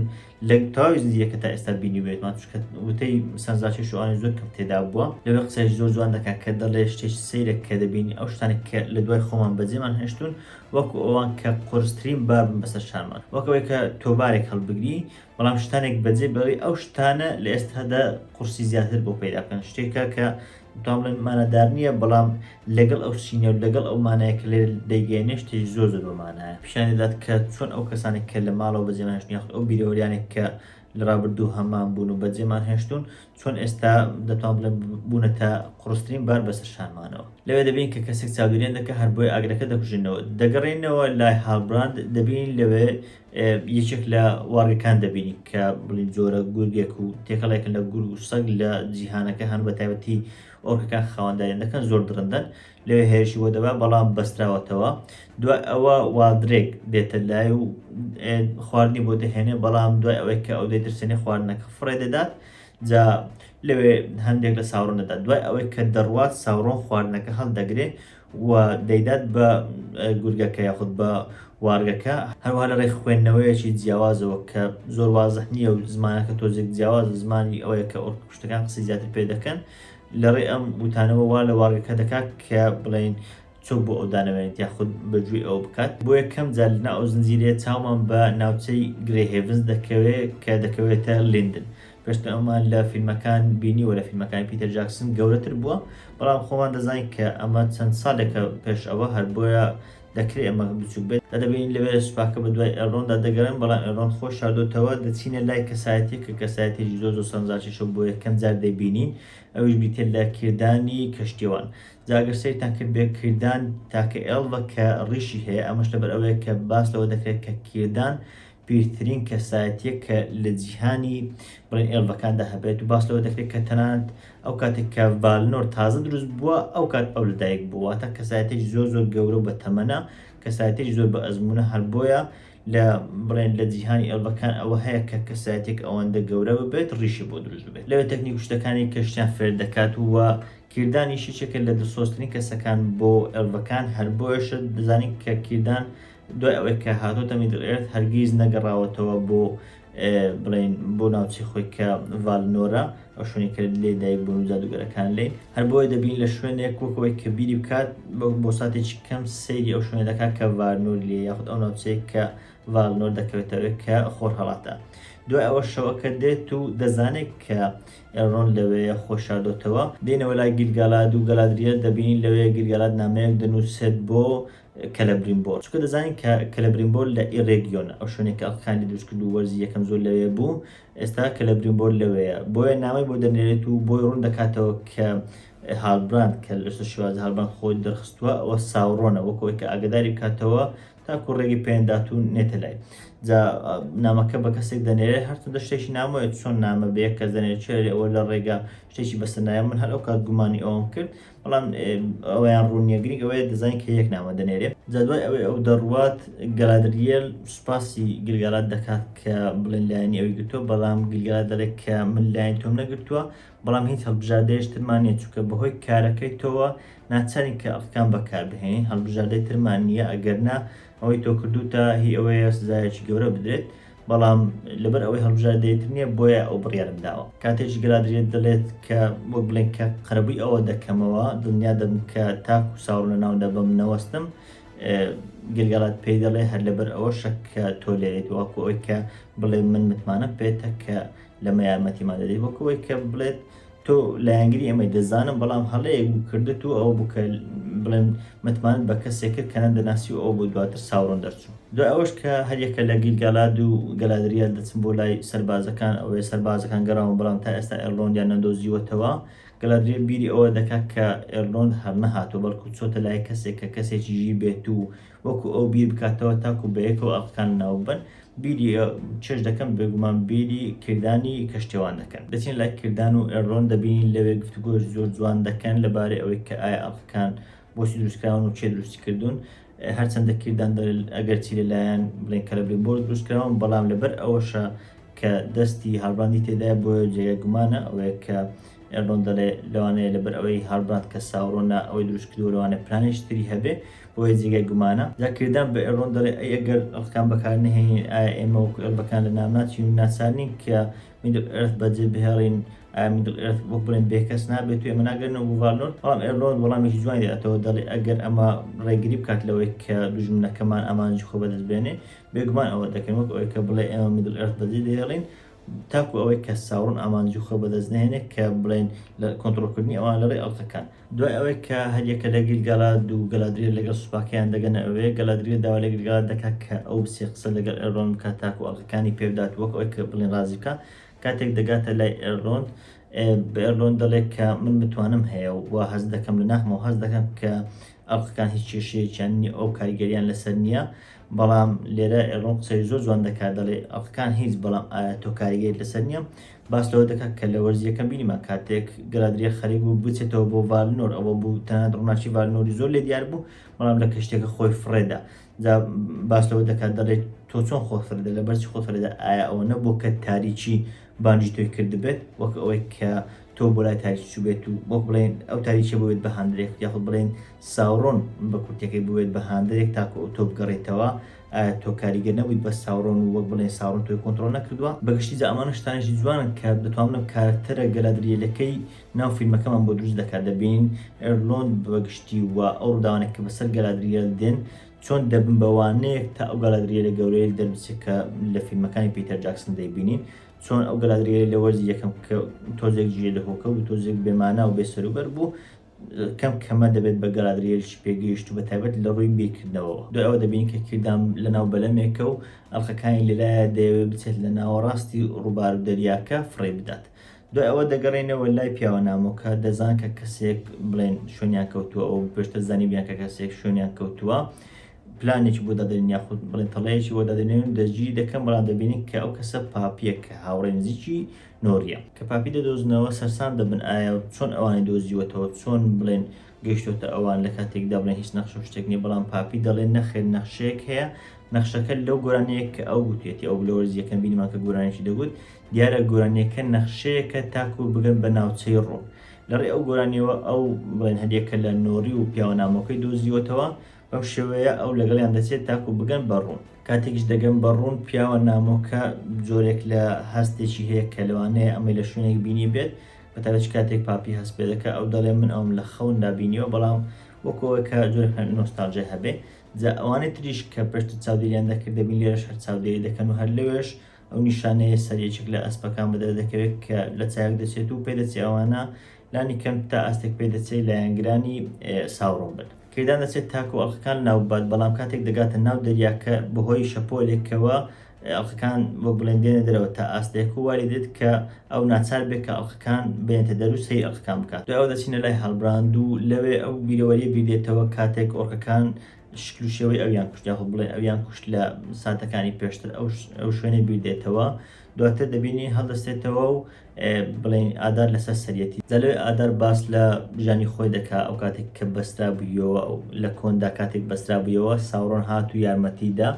لە تەواوی زنجیرەکە تا ئێستا بینیوێتمان چونکە وتەی سەنزاچی شوانە زۆر کەم تێدا بووە لەوێ قسەیەکی زۆر جوان دەکات کە دەڵێ شتێکی سەیرە کە دەبینی ئەو شتانێک کە لە دوای خۆمان بەجێمان هێشتون وەکو ئەوان کە قورسترین بابن بەسەر شانمان وەک ئەوەی کە تۆبارێک هەڵبگری بەڵام شتانێک بەجێ بەوەی ئەو شتانە لە ئێستادا قورسی زیاتر بۆ پەیدا بکەن شتێکە کە دوام بڵێن مانادار نییە بەڵام لەگەڵ ئەو سینە و لەگەڵ ئەو مانایە کە لێ دەیگەێنێ شتێک زۆر زۆر بەمانایە پیشان دەدات کە چۆن ئەو کەسانێک کە لە ماڵەوە بەجێمانش نیاخت ئەو بیرەوەریانێک کە لە ڕابردوو هەمان بوون و بەجێمان هێشتون چۆن ئێستا دەتوان بڵێن بوونە تا قڕسترین بار بەسەر شانمانەوە لەوێ دەبین کە کەسێک چاودێن دەکە هەر بۆی ئاگرەکە دەکوژنەوە دەگەڕێنەوە لای هاڵبراند دەبین لەوێ یەکێک لە واڕگەکان دەبینی کە بڵین جۆرە گورگێک و تێکەڵێکن لە گورگ و سەگ لە جیهانەکە هەن بە تایبەتی ئۆرکەکان خاوەنداریان دەکەن زۆر درندەن لەوێ هێرشی بۆ دەبا بەڵام بەستراوەتەوە دوای ئەوە وادرێک دێتە لای و خواردنی بۆ دەهێنێ بەڵام دوای ئەوەی کە ئەو دەیترسێنێ خواردنەکە فڕێ دەدات جا لەوێ هەندێک لە ساوڕن دەدات دوای ئەوەی کە دەڕوات ساوڕۆن خواردنەکە هەڵدەگرێ و دەیدات بە گورگەکە یاخود بە وارگەکە، هەروەها لە ڕێی خوێندنەوەیەکی جیاوازەوە کە زۆر وازح نییە و زمانەکە تۆزێک جیاوازە، زمانی ئەوەیە کە ئۆرکپشتەکان قسەی زیاتر پێ دەکەن، لە ڕێی ئەم وتانەوە وا لە وارگەکە دەکات کە بڵێین چۆک بۆ ئەو دانەوێنێت یاخود بە گوێی ئەوە بکات. بۆ یەکەم جار لەناو ئەو زنجیرەیە چاومان بە ناوچەی گرەی هێڤنز دەکەوێت کە دەکەوێتە لیندن، پێشتر ئەومان لە فیلمەکان بینیوە لە فیلمەکانی پیتەر جاکسن گەورەتر بووە بەڵام خۆمان دەزانین کە ئەمە چەند ساڵێکە پێش ئەوە هەر بۆیە دەکرێت ئەمە بچووک بێت دا دەبینین لەوێ سوپاکە بە دوای ئێلرۆندا دەگەڕێن بەڵام ئێلرۆن خۆی شاردۆتەوە دەچینە لای کەسایەتیە کە کەسایەتێکی زۆر زۆر سەرنجڕاکێشە بۆ یەکەم جار دەیبینین ئەویش بریتیە لە کیردانی کەشتیوان جا گەر سەیرتان کرد بێ کیردان تاکە ئێڵڤە کە ڕیشی هەیە ئەمەش لەبەر ئەوەیە کە باس لەوە دەکرێت کە کیردان پیرترین کەسایەتییە کە لە جیهانی بڵێن ئێڵڤەکاندا هەبێت و باس لەوە دەکرێت کە تەنانەت ئەو کاتێک کە ڤالنۆر تازە دروست بووە ئەو کات ئەو لەدایک بووە واتە کەسایەتێکی زۆر زۆر گەورە و بە تەمەنە کەسایەتێکی زۆر بە ئەزمونە هەر بۆیە لە بڵێن لە جیهانی ئێڵڤەکان ئەوە هەیە کە کەسایەتێک ئەوەندە گەورە ببێت ڕیشی بۆ دروست ببێت لەوێ تەکنیک و شتەکانی کە شتیان فێر دەکات و کیردانیشی چێکە لە دڵسۆزترین کەسەکان بۆ ئێڵڤەکان هەر بۆیەشە دەزانین کە کیردان دوای ئەوەی کە هاتۆتە میدڵ ئێرث هەرگیز نەگەڕاوەتەوە بۆ بڵین بۆ ناوچی خۆی کە ڤالنۆرە ئەو شوێنی کە لێ دایک بوون و جادوگەرەکان لێ هەر بۆیە دەبین لە شوێنێک وەکەوەی کە بیری بکات بۆ ساتێکی کەم سەیری ئەو شوێنە دەکات کە ڤارنۆر لێ یاخود ئەو ناوچەیە کە ڤالنۆر دەکەوێتەوە کە خۆر هەڵاتە دوای ئەوە شەوەکە دێت و دەزانێت کە ئێڕۆن لەوەیە خۆشاردۆتەوە دێنەوە لای گیلگالاد و گەلادریە دەبین لەوەیە گیلگالات نامەیەک دەنووسێت بۆ کەلەبرینبۆر، چونکە دەزانین کە کەلەبرینبۆر لە ئی رێگیۆنە، ئەو شوێنەی کە ئەڵکاندی دروست کرد و وەرزی یەکەم زۆر لەوێ بوو، ئێستا کەلەبرینبۆر لەوێیە، بۆیە نامەی بۆ دەنێرێت و بۆی روون دەکاتەوە کە هالبراند کە لەسەر شێوازی هالبراند خۆی دەرخستووە، ئەوە ساورۆنە، وەک ئەوەی کە ئاگەداری بکاتەوە تاکو رێگەی پێنەدات و نێتە لای. جا نامەکە بە کەسێک دەنێرێت، هەرچەندە شتێکی نامۆیە، چۆن نامە بە یەک کەس دەنێرێت، چێ ئەوە لە رێگە شتێکی بەسەر نایە، من هەر ئەو کات گومانی ئەوەم کرد، بەڵام ئەوەیان ڕوون نییە گرنگ ئەوەیە دەزانین کە یەک نامە دەنێرێ جا دوای ئەوەی ئەو دەڕوات گەلادریەل سوپاسی گلگالات دەکات کە بڵێن لایەنی ئەوی گرتووە بەڵام گلگالات دەڵێت کە من لایەن تۆم نەگرتووە بەڵام هیچ هەڵبژاردەیەش ترمان نییە چونکە بەهۆی کارەکەی تۆوە ناچارین کە ئەڵقەکان بەکاربهێنین هەڵبژاردەی ترمان نییە ئەگەرنا ئەوەی تۆ کردووتە هی ئەوەیە سزایەکی گەورە بدرێت بەڵام لەبەر ئەوەی هەڵبژاردەی تر نییە بۆیە ئەو بڕیارم داوە کاتێکی گەلادرێت دەڵێت کە وەک بڵێن کە قەرەبووی ئەوە دەکەمەوە دڵنیا دەبم کە تاک و ساڕ لە ناودا بەم نەوەستم گەلگەڵات پێی دەڵێ هەر لەبەر ئەوە شەک کە تۆ لێت وەکو ئەوی کە بڵێ من متمانە پێێتە کە لەمە یارمەتیمان دەدەیت وەک ئەوەی کە بڵێت تۆ لایەنگری ئەمەی دەزانم بەڵام هەڵەیەک بوو کردت و ئەو بکە بڵێن متمانت بە کەسێک کرد کە نەدەناسی و ئەو بۆ دواتر ساوڕن دەرچوو دوای ئەوەش کە هەریەکە لە گیلگالاد و گەلادریال دەچن بۆ لای سەربازەکان ئەوەیە سەربازەکان گەڕاون بەڵام تا ئێستا ئێرلۆندیان نەدۆزیوەتەوە گەلادریل بیری ئەوە دەکات کە ئێرلۆند هەرنەهاتوە بەڵکو چۆتە لای کەسێک کە کەسێکی ژیر بێت و وەکو ئەو بیر بکاتەوە تاکو بەیەکەوە ئەڵقەکان ناوببەن، بیری ئێوە چێژ دەکەن، بێگومان بیری کردانی کەشتیوان دەکەن. دەچین لای کردان و ئێرلۆن دەبینین لەوێ گفتوگۆی زۆر جوان دەکەن لەبارەی ئەوەی کە ئایا ئەڵقەکان بۆچی دروستکراون و کێ دروستی کردوون، هەرچەندە کردان دەڵێت ئەگەرچی لەلایەن بڵێن کەلەبریمبۆر دروستکراون بەڵام لەبەر ئەوەشە کە دەستی هالبراندی تێدایە بۆیە جێگای گومانە ئەوەیە کە ئێردۆن دەڵێ لەوانەیە لەبەر ئەوەی هاڵبراند کە ساورۆن نا ئەوەی دروست کردووە لەوانەیە پلانێکی تری هەبێ بۆیە جێگای گومانە جا کردان بە ئێردۆن دەڵێ ئەی ئەگەر ئەڵقان بەکار نەهێنین ئایا ئێمە وەکو ئێلبەکان لە نام ناچین و ناچار نین کە میدل ئێرث بەجێ بهێڵین ئایا میدل ئێرث وەک بڵێن بێکەس نابێت و ئێمە ناگەرنەوە بۆ ڤالنۆر بەڵام ئێرلۆن وەڵامێکی جوانی دەداتەوە دەڵێ ئەگەر ئەمە ڕێگری بکات لەوەی کە دوژمنەکەمان ئامانجی خۆ بەدەست بێنێ بێگومان ئەوە دەکەین وەک ئەوەی کە بڵێ ئێمە میدل ئێرث بەجێ دەهێڵین تاکو ئەوەی کە ساورن ئامانجی خۆی بەدەست نەهێنێت کە بڵێین لە کۆنترۆڵکردنی ئەوان لەڕێی ئەڵقەکان. دوای ئەوەی کە هەریەکە لە گیل-گالاد و گەلادریێل لەگەڵ سوپاکەیان دەگەنە ئەوێ، گەلادریێل داوا لە گیل-گالاد دەکات کە ئەو بچێت قسە لەگەڵ ئێلرۆند بکات تاکو ئەڵقەکانی پێبدات وەک ئەوەی کە بڵێین ڕازی بکات، کاتێک دەگاتە لای ئێلرۆند بە ئێلرۆند دەڵێت کە من متوانەم هەیە و هەست دەکەم لە ناخمەوە هەست دەکەم کە ئەڵقەکان هیچ کێشەیەکیان نییە ئەو کاریگەریان لەسەر نییە بەڵام لێرە ئێڵۆن قسەی زۆر جوان دەکات دەڵێ ئەڵقەکان هیچ بەڵام ئایا تۆ کاریگەری لەسەر نییە باس لەوە دەکات کە لە وەرزی یەکەم بینیمان کاتێک گەلادریە خەریک بوو بچێتەوە بۆ ڤالنۆر ئەوە بوو تەنانەت ڕووناکی ڤالنۆری زۆر لێ دیار بوو بەڵام لە کەشتێکە خۆی فڕێدا جا باس لەوە دەکات دەڵێت تۆ چۆن خۆ فرێدە لەبەرچی خۆ فرێدە ئایا ئەوە نەبوو کە تاریکی بانگی تۆی کردبێت وەک ئەوەی کە تۆ بۆ لای تاریکی چووبێت و وەک بڵێین ئەو تاریکیە بووێت بە هاندەرێک یاخود بڵێین ساورۆن بە کورتەکەی بووێت بە هاندەرێک تاکو ئەو تۆ بگەڕێتەوە ئایا تۆ کاریگەر نەبوویت بە ساورۆن و وەک بڵێین ساورۆن تۆی کۆنتڕۆڵ نەکردووە بە گشتی جا ئەمانە شتانێکی جوانن کە دەتوانم کارەکتەرە گەلادریەلەکەی ناو فیلمەکەمان بۆ دروست دەکات دەبینین ئێرلۆند بە گشتی و ئەو ڕووداوانێک کە بەسەر گەلادریەل دێن چۆن دەبن بە وانەیەک تا ئەو گەلادریێلە گەورەیل دەربچێت کە لە فیلمەکانی پیتەر جاکسن دەیبینین چۆن ئەو گەلادریێلە لە وەرزی یەکەم کە تۆزێک جێ لە هۆکە بوو تۆزێک بێمانا و بێسەروبەر بوو کەم کەمە دەبێت بە گەلادریێلشی پێگەیشت و بە تایبەت لە ڕووی بیرکردنەوە دو ئەوە دەبین کە کردام لە ناو بەلەمێکە و ئەڵلقەکانی لەلایە دەیەوێت بچێت لە ناوەڕاستی ڕووبار و دەریاکە فڕێ بدات دوای ئەوە دەگەڕێنەوە لای پیاوە نامۆکە دەزان کە کەسێک بڵێن شوێنیان کەوتووە ئەو پێشتر زانیبیان کە کەسێک شوێنیان کەوتووە پلانێکی بۆ دادرین یاخود بڵێن تەڵەیەکی بۆ دادرێن دەستگیری دەکەن بەڵام دەبینین کە ئەو کەسە پاپیەک کە هاوڕێ نزیکی نۆریە کە پاپی دەدۆزنەوە سەرسام دەبن ئایا چۆن ئەوانی دۆزیوەتەوە چۆن بڵێن گەشتۆتە ئەوان لە کاتێکدا بڵێن هیچ نەخشە شتێک نیە بەڵام پاپی دەڵێن نەخێر نەخشەیەک هەیە نەخشەکە لەو گۆرانەیەک کە ئەو گوتێتی ئەو لەوەرزیەکەم بینیمان کە گۆرانێکی دەگوت دیارە گۆرانیەکە نەخشەیەکە تاکو بگەن بە ناوچەی ڕۆ لەڕێ ئەو گۆرانیەوە ئەو بڵێن هەریەکە لە نۆری و پیاوە نامۆکەی دۆزیوەتەوە بەم شێوەیە ئەو لەگەڵیان دەچێت تاکو بگەن بە ڕوون کاتێکیش دەگەن بە ڕوون پیاوە نامۆکە جۆرێک لە هەستێکی هەیە کە لەوانەیە ئەمەی لە شوێنێک بینی بێت بەتابەت کاتێک پاپی هەست پێ دەکە ئەو دەڵێ من ئەوم لە خەوندا بینیوە بەڵام وەکەوەی کە جۆر نۆستالژای هەبێ جا ئەوانەی تریش کە پێشتر چاودێریان دەکرد دەبین لێرەش هەر چاودێری دەکەن و هەر لەوێش ئەو نیشانەیە سەر یەکێک لە ئەسپەکان بەدەر دەکەوێت کە لە چایەک دەچێت و پێدەچێ ئەوانە لانی کەم تا ئاستێک پێدەچێت لایەنگرانی ساوڕۆم بن. کەیدان دەچێت تاکو ئەڵقەکان لاو ببات، بەڵام کاتێک دەگاتە ناو دەریاکە بەهۆی شەپۆلێکەوە ئەڵقەکان وەک بڵێن دێنە دەرەوە تا ئاستێک و وای لێدێت کە ئەو ناچار بێت کە ئەڵقەکان بێنێتە دەر و سەیری ئەڵقەکان بکات. دوای ئەوە دەچینە لای هەڵبراند و لەوێ ئەو بیرەوەرییە بیردێتەوە کاتێک ئۆرکەکان شکل و شێوەی ئەویان کوشت یاخود بڵێ ئەویان کوشت لە ساتەکانی پێشتر ئەو شوێنە بیردێتەوە دواتر دەبینی هەڵدەستێتەوە و بڵێن ئادار لەسەر سەرەتی دەلێ ئادار باس لە ژانی خۆی دەکا ئەو کاتێک کە بەسترا بوویەوە ئەو لە کۆندا کاتێک بەسترا بوویەوە ساوڕۆن هات و یارمەتیدا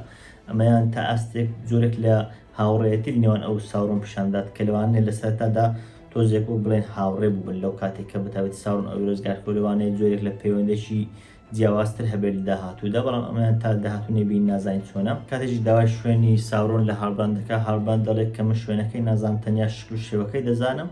ئەمەیان تا ئاستێک زۆرێک لە هاوڕێتی نێوان ئەو ساوڕۆن پیشاندات کە لەوانێ لە سەرتادا تۆزێک و بڵێن هاوڕێ بوون لەو کاتێک کە بتاوێت ساون ئەو ڕزگار کۆلوانەیە زۆرێک لە پەیوەندێکی جیاوازتر هەبێت لە داهاتوودا، بەڵام ئەمەیان تا داهاتوو نەیبینی نازانین چۆنە. کاتێکیش داوای شوێنی ساورۆن لە هاڵبراند دەکات، هاڵبراند دەڵێت کە من شوێنەکەی نازانم تەنیا شکل و شێوەکەی دەزانم.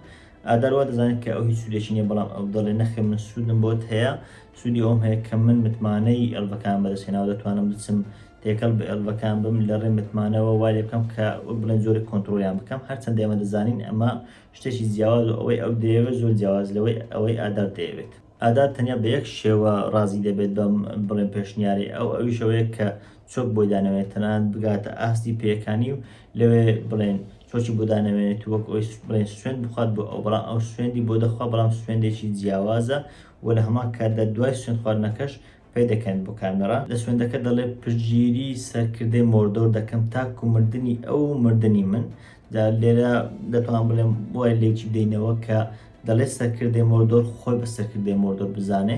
ئادار وا دەزانێت کە ئەو هیچ سوودێکی نییە، بەڵام ئەو دەڵێت نەخێر من سوودم بۆت هەیە، سوودی ئەوەم هەیە کە من متمانەی ئێڵڤەکانم بەدەستهێناوە، دەتوانم بچم تێکەڵ بە ئێڵڤەکان بم، لە ڕێی متمانەوە وا لێبکەم کە وەک بڵێن جۆرێک کۆنتڕۆڵیان بکەم، هەرچەندە ئێمە دەزانین ئەمە شتێکی جیاوازە و ئەوەی ئەو دەیەوێت زۆر جیاوازە لەوەی ئەوەی ئادار دەیەوێت. ئادات تەنیا بە یەک شێوە ڕازی دەبێت بەم بڵێن پێشنیارەی ئەو، ئەویش ئەوەیە کە چۆک بۆی دانەوێت تەنانەت بگاتە ئاستی پێیەکانی و لەوێ بڵێن چۆکی بۆ دانەوێنێت و وەک ئەوی بڵێن سوێند بخوات بۆ ئەو، بەڵام ئەو سوێندی بۆ دەخوا بەڵام سوێندێکی جیاوازە و لە هەمان کاتدا دوای سوێندخواردنەکەش پێدەکەن بۆ کامێڕا. لە سوێندەکە دەڵێ پشتگیری سەرکردەی مۆردۆر دەکەم تاکو مردنی ئەو و مردنی من. جا لێرە دەتوانم بڵێم وای لێکی بدەینەوە کە دەڵێ سەرکردەی مۆردۆر خۆی بە سەرکردەی مۆردۆر بزانێ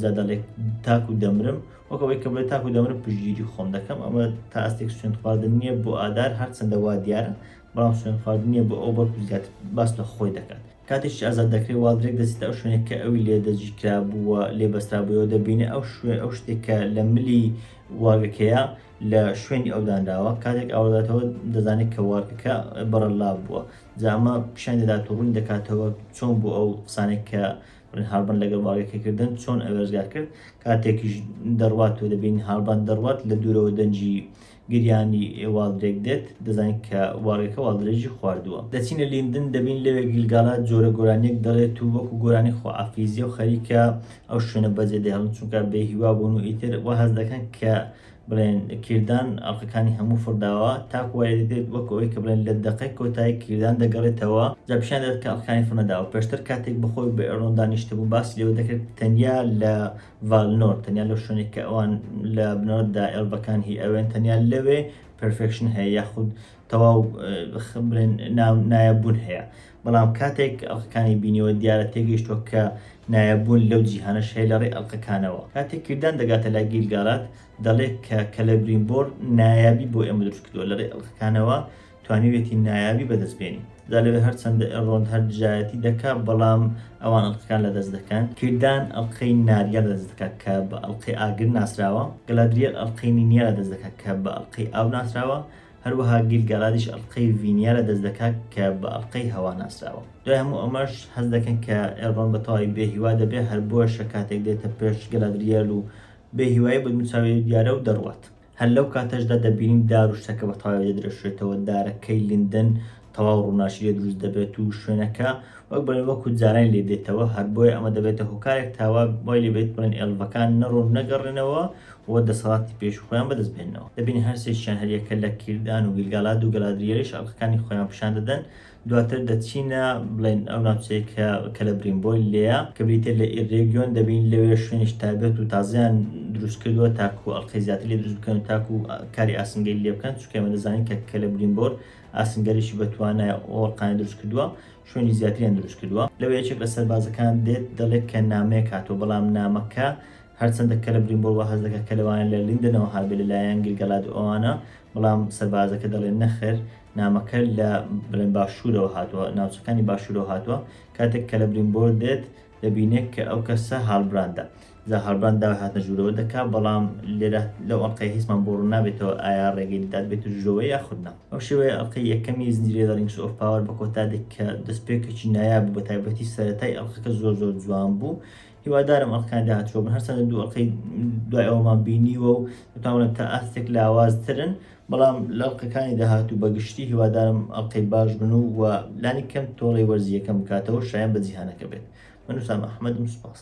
جا دەڵێ تاکو دەمرم وەک ئەوەی کە بڵێ تاکو دەمرم پشتگیری خۆم دەکەم ئەمە تا ئەستێک سوێند خواردن نییە بۆ ئادار هەرچەندە وا دیارە بەڵام سوێند خواردن نییە بۆ ئەو بەڵکو زیاتر باس لە خۆی دەکات. کاتێکیش ئازاد دەکرێت وا درەک دەچێتە ئەو شوێنێک کە ئەوی لێ دەجی کرابوو و لێ بەسترابووەوە دەبینێ ئەو شوێ ئەو شتێک کە لە ملی وارگەکەیە لە شوێنی ئەو دانراوە کاتێک ئاوەداتەوە دەزانێت کە وارگەکە بەڕەلا بووە جا ئەمە پیشان دەدات و ڕوون دەکاتەوە چۆن بوو ئەو قسانێک کە هاربن لەگەڵ وارگەکە کردن چۆن ئەوێزگار کرد کاتێکیش دەڕوات و دەبین هاربان دەڕوات لە دوورەوە دەنجی گریانی واڵدرێک دێت، دەزانین کە واڵگەکە واڵدرێکی خواردووە. دەچینە لیندن، دەبین لەوێ گیلگالا جۆرە گۆرانییەک دەڵێت و وەکو گۆرانی خوائافیزییە و خەریکە ئەو شوێنە بەجێ دەهێڵن، چونکە بێ هیوا بوون و ئیتر وا هەست دەکەن کە بڵێن کیردان ئەڵقەکانی هەموو فڕ داوە، تاکو وا لێدەدرێت وەکو ئەوەی کە بڵێن لە دەقەی کۆتایی کیردان دەگەڕێتەوە، جا پیشان دەدات کە ئەڵقەکانی فڕ نەداوە. پێشتر کاتێک بەخۆی بە ئێڕلۆندا نیشتبوو، باسی لەوە دەکرد تەنیا لە ڤالنۆر تەنیا لەو شوێنێک کە ئەوان لە بنەوەدا ئێڵڤەکان هی ئەوێن تەنیا لەوێ پرفێکشن هەیە یاخود تەواو بڵێن نایەبوون هەیە بەڵام کاتێک ئەڵقەکانی بینیەوە دیارە تێگەیشتوە کە نایەبوون لەو جیهانە شەی لە ڕێ ئەڵلقەکانەوە کاتێک کردان دەگاتە لای گیرگارات دەڵێت کە کەلەبرین بۆر نایابی بۆ ئێمە دروست کردووە لە ڕێ ئەڵلقەکانەوە توانیویەتی نایابی بەدەست بێنی جا لەوێ هەرچەندە ئێلرۆند هەر دژایەتی دەکا بەڵام ئەوان ئەڵقەکان لەدەست دەکەن کیردان ئەڵقەی ناریا لەدەست دەکا کە بە ئەڵقەی ئاگر ناسراوە گەلادریەل ئەڵقەی نینیا لەدەست دەکا کە بە ئەڵقەی ئاو ناسراوە هەروەها گیل گالادیش ئەڵقەی ڤینیا لەدەست دەکا کە بە ئەڵقەی هەوا ناسراوە دوای هەموو ئەمەش هەست دەکەن کە ئێلرۆند بە تەواوی بێ هیوا دەبێ هەر بۆیەشە کاتێک دێتە پێش گەلادریەل و بێ هیوایی بە دوو چاوی دیارە و دەڕوات هەر لەو کاتەشدا دەبینین دار و شتەکە بە تەواوی دەدرەشێتەوە، دارەکەی لیندن تەواو ڕووناکی لێ دروست دەبێت و شوێنەکە وەک بڵێن وەکو جارانی لێ دێتەوە، هەر بۆیە ئەمە دەبێتە هۆکارێک تا وا وای لێ بێت بڵێن ئێلڤەکان نەڕۆن نەگەڕێنەوە و دەسەڵاتی پێشوو خۆیان بەدەست بهێننەوە. دەبینین هەر سێکیان هەریەکە لە کیردان و گیلگالاد و گەلادریەلیش ئەڵقەکانی خۆیان پیشان دەدەن، دواتر دەچینە بڵێن ئەو ناوچەیە کە کەلەبرین بۆی لێە کە بریتە لە ئیرێگیۆن دەبین لەوێ شوێنش تابێت و تازیان دروست کردووە تاکو ئەڵلقەی زیاتر لێ دروست بکەن تاکو کاری ئاسنگەری لێ بکەن چکەمە دەزانین کە کەلەبرین بۆر ئاسنگەریشی بەتوانە ئۆڵقانی دروست کردووە شوێنی زیاتریان دروست کردووە لەوە یەکێک لە سەربازەکان دێت دەڵێت کە نامەیەک هاتووە بەڵام نامەکە هەرچەندە کە لە برینبۆڵ وە هەزەکە کە لەوانە لە لیندنەوە هابێت لەلایەن گلگەلاد ئەوانە بەڵام سەربازەکە دەڵێن نەخر نامەکە لە بڵێن باشوورەوە هاتووە، ناوچەکانی باشوورەوە هاتووە، کاتێک کەلەبرینبۆر دێت دەبینێت کە ئەو کەسە هالبراندە، جا هالبراند داوای هاتنە ژوورەوە دەکات، بەڵام لێرە لەو ئەڵقەیە هیچمان بۆ ڕوون نابێتەوە ئایا ڕێگەی دەدات بێتە ژوورەوە یاخود نا. بەم شێوەیە ئەڵقەی یەکەمی زنجیرەی The Rings of Power بە کۆتا دێت کە دەستپێکێکی نایاب بوو بەتایبەتی سەرەتای ئەڵقەکە زۆر زۆر جوان بوو، هیوادارم ئەڵقەکانی داهاتوو بن هەرچەندە دوو ئەڵقەی دوای ئەوەمان بینیوە و دەتوانم تا ئاستێک لاوازترن بەڵام لە ئەڵقەکانی داهاتوو بە گشتی هیوادارم ئەڵقەی باش بن و و لانی کەم تۆڵەی وەرزییەکەم بکاتەوە شایەن بە جیهانەکە بێت من وسام ئەحمەدم سوپاس.